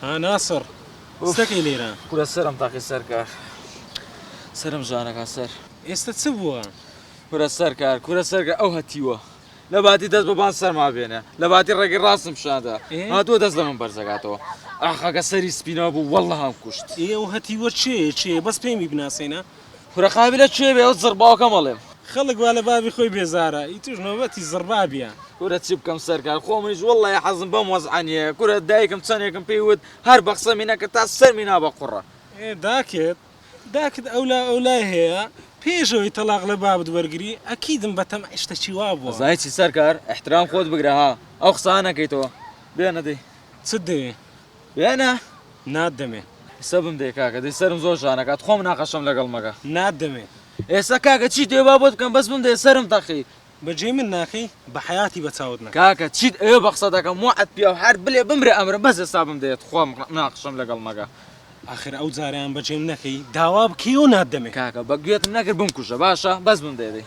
ها ناسڕ ستەکەی لێرە کورە سەرم تاقی سەرکار سرم ژانەکە سەر ئێستا چ بووە کورە سەرکار کورە سەرگە ئەو هەتیوە لە باتی دەست بەبان سەرما بێنە لە باتی ڕێگەی ڕاستم شادا هاتووە دەست لە من بەرزەکاتەوە ئاخەکە سەری سپینەوە بوو وەڵە هەم کوشت ئێ و هەتیوە چێ چێ بەس پێمی بناسێنە کورە قابیلە کێ بێ ئەو زڕباوکەم ئەڵێم. خەڵک وا لە بابی خۆی بێزارە ئیتوش نۆبەتی زڕبابیە. کورە چی بکەم سەرکار خۆمنیش وەڵلەهی حەزم بەم وەزعە نیە کورە دایکم چەنێکم پێی وت هەر بەقسەمی نەکە تا سەرمی نا بە قوڕە. ئێ داکت داکت ئەولا ئەولای هەیە پێش ئەوەی تەڵاق لە بابت وەرگری ئەکیدم بە تەمعی شتەکی وا بوە. ئەزانی چی سەرکار ئیحترام خۆت بگرە ها ئەو قسانە نەکەیتەوە بێنە دەی. چت دەوێ یا نا؟ نات دەمێ. ئێستا بم دەی کاکە دەی سەرم زۆر ژان ئەکات خۆ مناقەشەم لەگەڵ مەکە. نات دەمێ. ئێستا کاکە چیت ئەوێ با بۆت بکەم بەس بم دەی سەرم تەقی. بە جێی من ناکەی بە حەیاتی بە چاوت نەکەم. کاکە چیت ئەوێ بە قسە دەکەم وەعد پیاو حارت بلێ بمرێ ئەمرم بەس ئێستا بم دەیە تخوا مناقەشەم لەگەڵ مەکە. ئاخر ئەو جارەیان بە جێم نەکەی داوا بکەی و نات دەمێ. کاکە بە گوێتم نەکرد بمکوژە باشە بەس بم دەی دەی.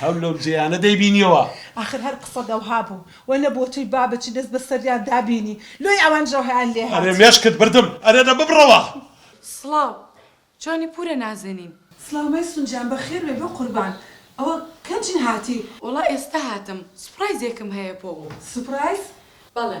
هەر لەو جێیانە دەیبینیەوە. ئاخر هەر قسەت ئەوها بوو و نە بۆ تۆی بابت چی دەست بەسەریان دا بینی لۆی ئەوان ژەوهیان لێ هات. ئەرێ مێشکت بردم ئەرێ دە ببڕەوە. سڵاو چۆنی پورە نازەنین. سڵاو مەیسون گیان بەخێر بێی بە قوربان ئەوە کەجی هاتی. وەڵا ئێستا هاتم سوپڕایزێکم هەیە بۆ. سوپڕایز؟ بەڵێ.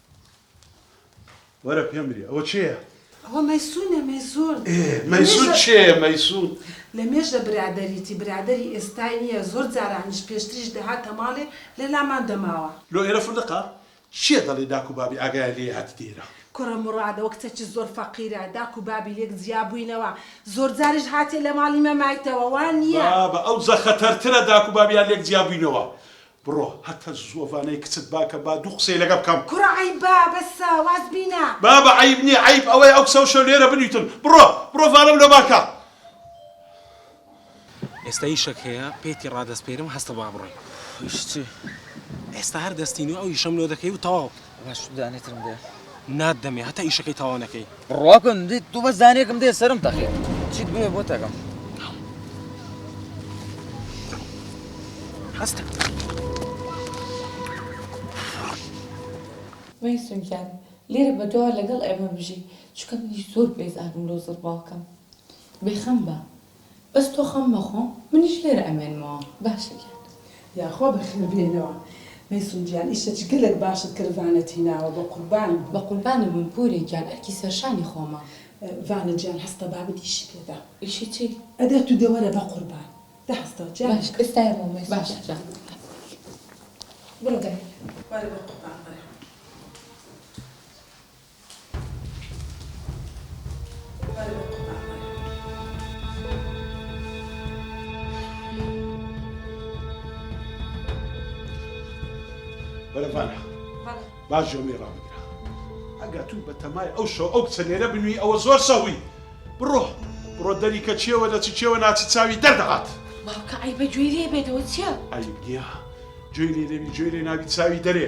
وەرە پێم بری ئەوە چێە؟ ئەوە مەیسونە مەیسون مەیسون چێ مەیسون لە مێژە برادەریتی برادەری ئێستای نییە زۆر جارانیش پێشتریش دەهاتە ماڵێ لە لامان دەماوە. لۆ ئێرە فندقە؟ چیە دەڵێی داک و بابی ئاگایان لێیە هاتیتە ئێرە. کوڕە مڕادە وە کچەکی زۆر فەقیرە داک و بابی لێک جیا بووینەوە زۆر جاریش هاتیە لە ماڵی مەمایتەوە وانیە. بابە ئەو جە خەتەرترە داک و بابیان لێک جیا بووینەوە بڕۆ هەتە زووەڤانەی کچت باکە با دوو قسەی لەگە بکەم. کوڕە عەیبە بەسە واز بینە. بابە عەیب نیە عەیب ئەوەیە ئەو کچە و شەو لێرە بنویتن بڕۆ بڕۆ ڤانەم لۆ باکە. ئێستا ئیشەک هەیە پێتی ڕادەسپێرم هەستە با بڕۆین. ئیش چی؟ ئێستا هەر دەستی نوێ ئەو ئیشەم لۆ دەکەی و تەواو. باشتر دانێترم دێ نات دەمێ هەتا ئیشەکەی تەواو نەکەی ڕواکەم دیت دوو بە زانێکم دێ سرم تەقی چیت بێ بۆ تەکەم هەستە مەیسم گیان لێرە بەدوا لەگەڵ ئێمە بژی چکە منیش زۆر بێزارم لۆ زڕباڵکەم بێخەم بە. بەس تۆ خەم مەخۆ منیش لێرە ئەمێنمەوە باشە گیان. یاخوا بەخێر بێنەوە مەیسون گیان ئیشە جگەلەک باشت کرد ڤانەت هیناوە بەقوربانت بم. بەقوربانت بم پورێ گیان ئەرکی سەرشانی خۆمە. ڤانە گیان هەستە بابت ئیشی پێدا. ئیشی چی؟ ئەدە تو دەوەرە بەقوربان. دە هەستە جا. باشە ئێستا ئەمەوە مەیسون. باشە جا. بڕۆ دەرێ. وەرە بەقوربان وەرە. بەرەڤانە با ژۆمی ڕابگرە ئەگە تو بە تەمای ئەو شەو ئەو کچە لێرە بنوی ئەوە زۆر سەهوی بڕۆ بڕۆ دەری کە چێوە لە چ چێوە ناچی چاوی دەردەهات باوکە عەیبە گوێی لێ بێتەوە چیە؟ عەیب نییە گوێی لێ نەبی گوێی لێ نابی چاوی دەرێ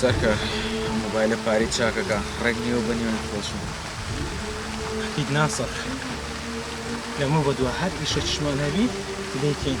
سەرکە مۆبایلە پارەی چاکەکە ڕێک نیوە بە نیوەی خۆشم هیچ ناسەڕ لەمە بەدووە هەر ئیشە چشمان هەبی دەیکەین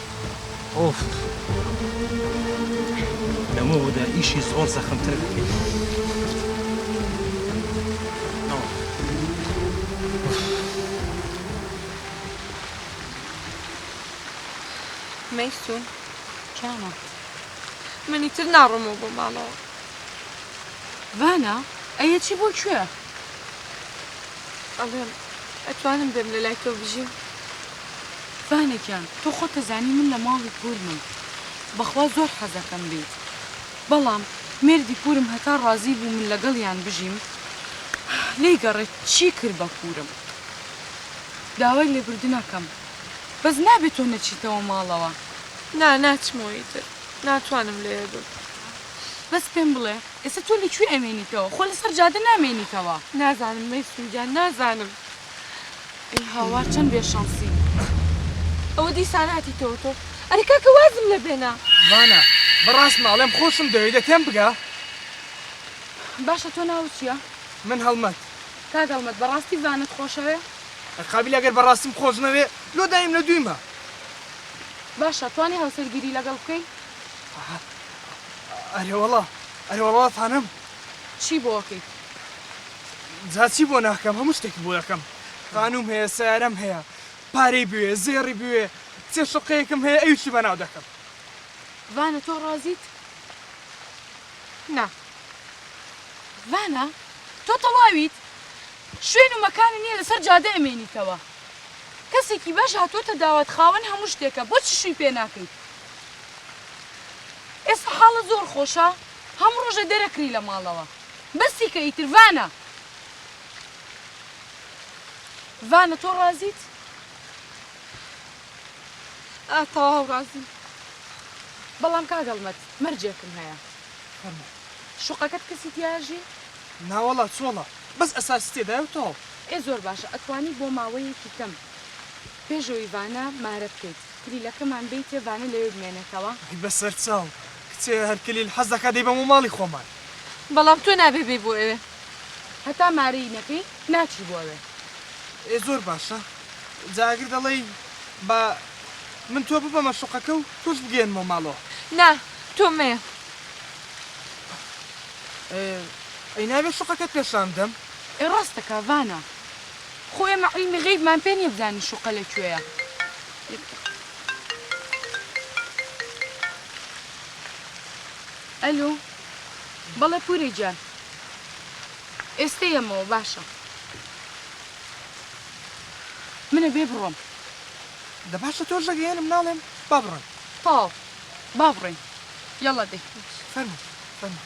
ئۆف لەمەوەدا ئیشی زۆر زەخمتر دەکەین مەیسون کیانە منی تر ناڕۆمەوە بۆ ماڵەوە ڤانا ئەیە چی بۆ کوێ ئەڵێم ئەتوانم بێم لە لای تۆ بژیم فانە گیان تۆ خۆت ئەزانی من لە ماڵی پورمم بەخوا زۆر حەزەکەم بێیت بەڵام مێردی پورم هەتا ڕازی بوو من لەگەڵیان بژیم لێی گەڕێ چی کرد بە پورم داوای لێبوردنەکەم بەس نابێ تۆ نەچیتەوە ماڵەوە. نا ناچمەوە ئیتر ناتوانم لەوێ بم. بەس پێم بڵێ ئێستا تۆ لە کوێ ئەمێنیتەوە خۆ لەسەر جادە نامێنیتەوە. نازانم مەیسون گیان نازانم. ئەی هاوار چەند بێ شەنسی ئەوە دیسان هاتیتەوە تۆ ئەرێ کاکە وازم لە بێنە. ڤانا بەڕاستمە ئەڵێم خۆشم دەوێی دە تێم بگە. باشە تۆ ناوت چیە؟ من هەڵمەت. کاک هەڵمەت بەڕاستی ڤانەت خۆشەوێ؟ ئەی قابیلە گەر بەڕاستیم خۆش نەوێ لۆ دایم لە دویمە. باشە توانی هاوسەرگیری لەگەڵ بکەی؟ ئەرێوەڵا ئەرێوەڵا فانەم. چی بۆ ئەکەیت؟ جا چی بۆ ناکەم هەموو شتێکی بۆ دەکەم خانووم هەیە سارەم هەیە پارەی بوێ زێڕی بوێ چێ شقەیەکم هەیە ئەویشی بەناو دەکەم ڤانە تۆ ڕازیت نا ڤانە تۆ تەواویت شوێن و مەکان نییە لەسەر جادە ئەمێنیتەوە کەسێکی باش هاتووەتە داوات خاوەن هەموو شتێکە بۆچی شووی پێ ناکەیت ئێستا حاڵە زۆر خۆشە هەموو ڕۆژە دەرەکری لە ماڵەوە بەسی کە ئیتر ڤانە. ڤانە تۆ ڕازیت؟ ئا تەواو ڕازیم. بەڵام کاک هەڵمەت مەرجێکم هەیە. فەرموو. شوقەکەت کەسی تیاژی؟ ناوەڵا چۆڵە بەس ئەساسی تێدایە و تەواو. ئێ زۆر باشە ئەتوانی بۆ ماوەیەکی کەم پێش ئەوی ڤانە مارە بکەیت کلیلەکەمان بەیتێ ڤانە لەوێ بمێنێتەوە. ئەی بەسەرچاو کچێ هەر کلیل حەز دەکا دەیبەمەوە ماڵی خۆمان. بەڵام تۆ نابێ بێی بۆ ئەوێ. هەتا مارەی نەکەی ناچی بۆ ئەوێ. ئێ زۆر باشە جا ئەگر دەڵێی با من تۆ ببەمە شوقەکە و تۆش بگەیەنمەوە ماڵەوە. نا تۆ مەیە. ئەی نابێ شوقەکەت پێشان بدەم؟ ئێ ڕاست دەکا ڤانا. خۆ ئێمە عیلمی غەیبمان پێ نیە بزانین شوقە لە کوێیە. یەک دەقە. ئەلۆ، بەڵێ پوورێ گیان. ئێستە یەمەوە، باشە. من ئەبێ بڕۆم. دە باشە تۆش دەگەیەنم ناڵێم، با بڕۆین. تەواو، با بڕۆین. یەڵڵا دەی. فەرموو، فەرموو.